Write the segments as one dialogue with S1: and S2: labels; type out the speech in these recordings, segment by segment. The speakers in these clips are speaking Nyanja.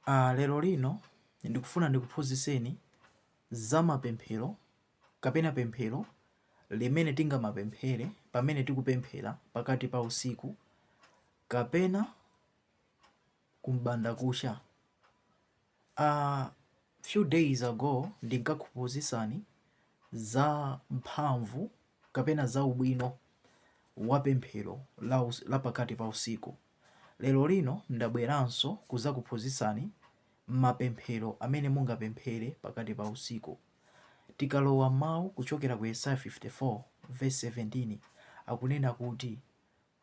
S1: Lero lino ndikufuna ndikuphunzitseni za mapemphero kapena pemphero limene tingamapemphere pamene tikupemphera pakati pa usiku kapena kumbandakucha. A few days ago ndinkakuphunzitsani za mphamvu kapena za ubwino wa pemphero la pakati pa usiku. Lero lino ndabweranso kuzakuphunzitsani mapemphero amene mungapemphere pakati pa usiku. Tikalowa m'mau kuchokera ku Yesaya 54 vesi 17 akunena kuti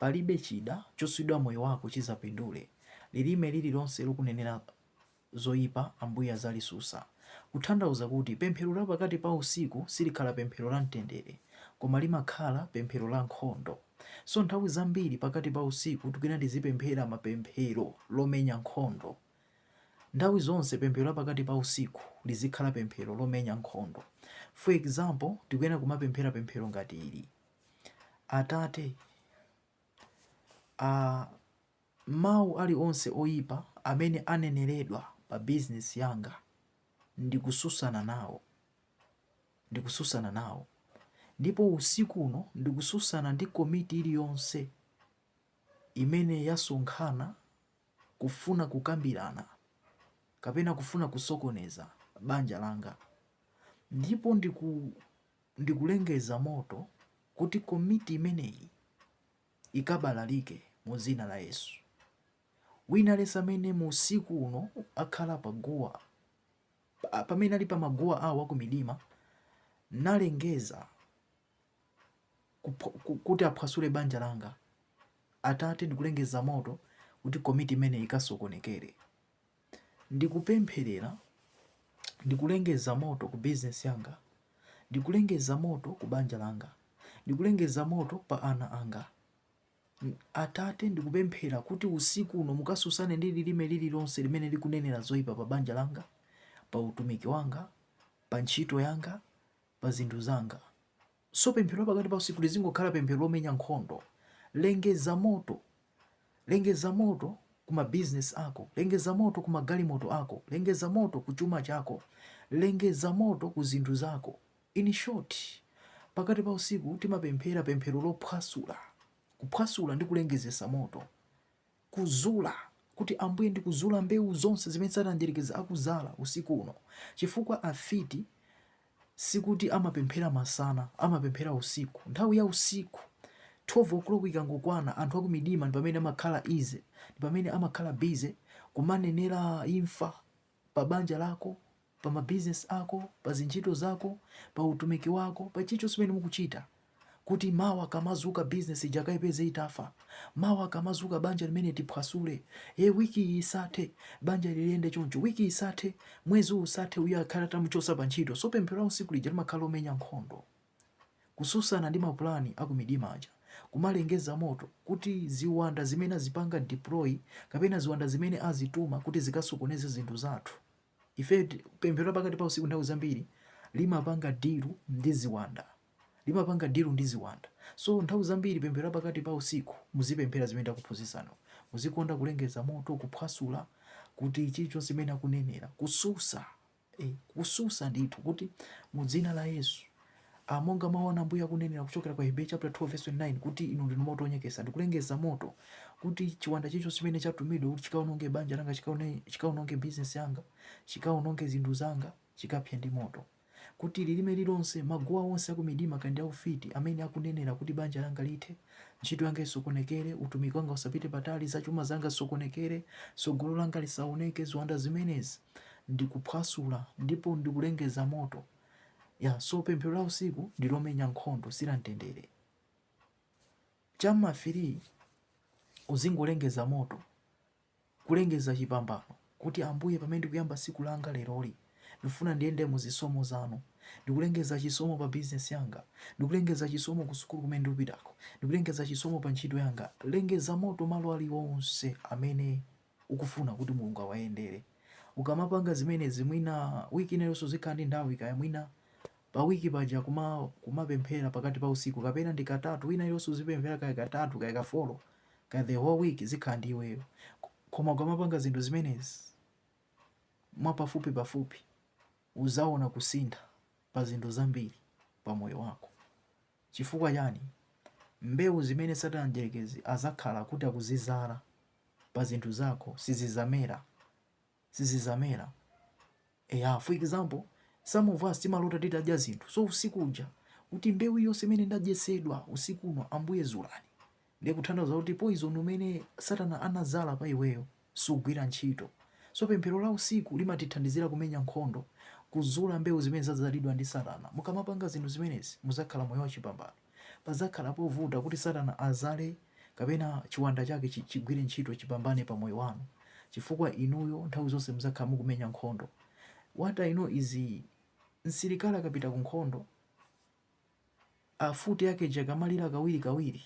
S1: palibe chida chosulidwa moyo wako chizapindule, lilime lililonse lokunenera. zoipa Ambuye azalisusa. Kuthandauza kuti pemphero la pakati pa usiku silikhala pemphero la mtendere koma limakhala pemphero la nkhondo. So nthawi zambiri pakati pa usiku tikuyena tizipemphera mapemphero lomenya nkhondo. Nthawi zonse pemphero la pakati pa usiku lizikhala pemphero lomenya nkhondo. For example, tikuyena kumapemphera pemphero ngati ili. Atate, Mawu alionse oipa amene aneneredwa pa bizinesi yanga ndikususana nawo, ndikususana nawo. Ndipo usiku uno ndikususana ndi komiti iliyonse imene yasonkhana kufuna kukambirana kapena kufuna kusokoneza banja langa. Ndipo ndikulengeza moto kuti komiti imeneyi ikabalalike mu Dzina la Yesu. Wina aliyense amene mu usiku uno akhala pa guwa, pamene ali pa maguwa awo akumidima, nalengeza kuti aphwasule banja langa, Atate, ndikulengeza moto kuti komiti imeneyi ikasokonekere. Ndikupempherera, ndikulengeza moto ku bizinesi yanga, ndikulengeza moto ku banja langa, ndikulengeza moto pa ana anga. Atate, ndikupemphera kuti usiku uno mukasusane ndi lilime lililonse limene likunenera zoyipa pa banja langa, pa utumiki wanga, pa ntchito yanga, pa zinthu zanga. So pemphero pakati pa usiku lizingokhala pemphero lomenya nkhondo. Lengeza moto, lengeza moto ku mabizinesi ako, lengeza moto ku magalimoto ako, lengeza moto ku chuma chako, lengeza moto ku zinthu zako. In short, pakati pa usiku timapemphera pemphero lophwasula, kuphwasula ndi kulengezesa moto. kuzula, kuti Ambuye ndikuzula mbewu zonse zimene Satana Mdierekezi akuzala usiku uno, chifukwa afiti sikuti amapemphera masana, amapemphera usiku. Nthawi ya usiku, 12:00 ikangokwana, anthu akumidima ndi pamene amakhala easy, ndi pamene amakhala busy kumanenera imfa pa banja lako, pa mabizinesi ako, pa zintchito zako, pa utumiki wako, pa chilichonse chimene mukuchita, kuti mawa akamazuka bizinesi ija akaipeze itafa, mawa akamazuka banja limeneli tiphwasule, e wiki iyi isathe banja liliyende choncho, wiki isathe, mwezi usathe, uyu akhale atamuchosa pa ntchito. So pemphero la usiku lija limakhala lomenya nkhondo. kususana ndi mapulani akumidima aja kumalengeza moto kuti ziwanda zimene azipanga deploy kapena ziwanda zimene azituma kuti zikasokoneze zinthu zathu ife pemphero lapakati pa usiku nthawi zambiri limapanga dilu ndi ziwanda limapanga dilu ndi ziwanda so nthawi zambiri pemphero lapakati pa usiku muzipemphera zimene ndakuphunzitsani muzikonda kulengeza moto kuphwasula kuti chilichonse chimene akunenera kususa E, kususa ndithu kuti mu dzina la Yesu a, monga mawu anu Ambuye akunenera kuchokera kwa Hebrew chapter 12 verse 29 kuti inu ndinu moto onyekesa ndikulengeza moto kuti chiwanda chilichonse chimene chatumidwa kuti chikaononge banja langa chikaononge bizinesi yanga chikaononge zinthu zanga chikapse ndi moto kuti lilime lilonse maguwa onse akumidima komanso aufiti amene akunenera kuti banja langa lithe Ntchito yanga isokonekere, utumiki wanga usapite patali, zachuma zanga zisokonekere, tsogolo langa lisaoneke, ziwanda zimenezi ndikuphwasula ndipo ndikulengeza moto. Ya, so pemphero la usiku ndi lomenya nkhondo, si la mtendere. Cha m'ma firii uzingolengeza moto. Kulengeza chipambano kuti Ambuye pamene ndikuyamba tsiku langa leroli, ndikufuna ndiyende mu zisomo zanu. Ndikulengeza chisomo pa bizinesi yanga. Ndikulengeza chisomo ku sukulu kumene ndikupitako. Ndikulengeza chisomo pa ntchito yanga. Lengeza moto malo aliwonse amene ukufuna kuti Mulungu awayendere. Ukamapanga zimenezi mwina wiki ina iliyonse uzikhala ndi nthawi kaya mwina pa wiki paja kuma kumapemphera pakati pa usiku kapena ndi katatu wiki ina iliyonse uzipemphera kaya katatu kaya ka folo kaya the whole week zikhala ndi iweyo koma ukamapanga zinthu zimenezi mwapafupi pafupi uzaona kusintha pa zinthu zambiri pa moyo wako chifukwa chani mbewu zimene satana mdyerekezi azakhala kuti akuzizala pa zinthu zako sizizamera sizizamera. Eya, for example, some of us timalota titadya zinthu. So usiku uja kuti mbewu yonse imene ndadyetsedwa usiku uno Ambuye zulani. Ndiye ikuthandiza kuti poison umene Satana anazala pa iweyo usagwire ntchito. So pemphero la usiku limatithandizira kumenya nkhondo kuzula mbewu zimene zadzalidwa ndi Satana. Mukamapanga zinthu zimenezi muzakhala moyo wachipambano. Padzakhala povuta kuti Satana adzadzale kapena chiwanda chake chi, chigwire ntchito, chipambane pa moyo wanu, chifukwa inuyo nthawi zonse mudzakhala mukumenya nkhondo. What I know is msilikali akapita ku nkhondo, futi yake ija ikamalira kawiri kawiri,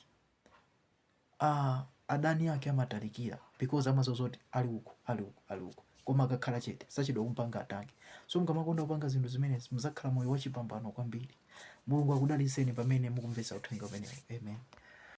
S1: adani ake amatalikira because amadziwa zoti ali uko ali uku ali uku koma akakhala chete sachedwa kumpanga attack so mukamakonda kupanga zinthu zimenezi muzakhala moyo wachipambano kwambiri mulungu akudalitseni pamene mukumvetsa uthenga umenewu amen